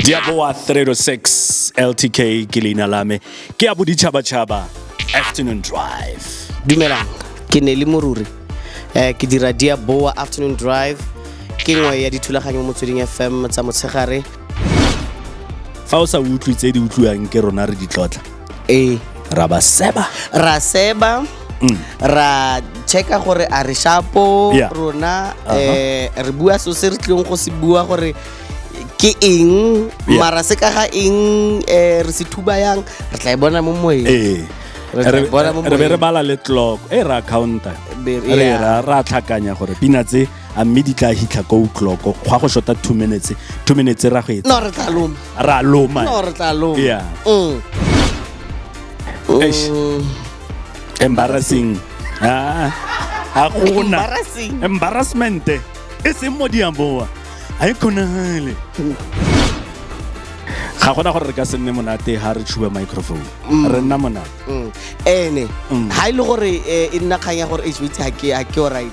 diaboa 306 ltk ke leina la me ke ya boditšhabatšhaba afternoon drive dumelang ke ne le moruri um ke dira diaboa afternoon drive ke nngwe ya dithulaganyo mo motsweding fm tsa motshegare fa o sa utlwe tse di utlwiwang ke rona re ditlotla ee ra ba seba ra seba mm. ra checka gore a re shapo yeah. rona uh -huh. eh, re bua so se re tlileng go se bua gore ke eng yeah. mara se ka ga eng eh, re se thuba yang re tla e bona mo moeng ee re be re bala le clock e ra counter re ra tlhakanya gore pina tse a mme di tla hitlha ko utloko gwa go shota two minutes two minutes ra go etsa no re tla loma ra loma no re tla loma yeah mm. Eish. Mm. embarrassing ah a gona Embarrassing. embarrassment e seng mo diaboa ga e kgonagale ga gona gore re ka se nne monate ga re tshuba microphone re nna monate Mm. ene Mm. ha e le gore eh, e nna kgang ya gore h ga ke ga ke alright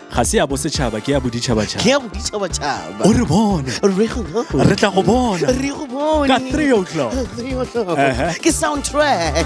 ga se ya bosetšhaba ke ya boditšhabatšhaba ke ya boditšhabatšhaba o re bone re go bone re tla go bona re go bone ka 3 o'clock ke soundtrack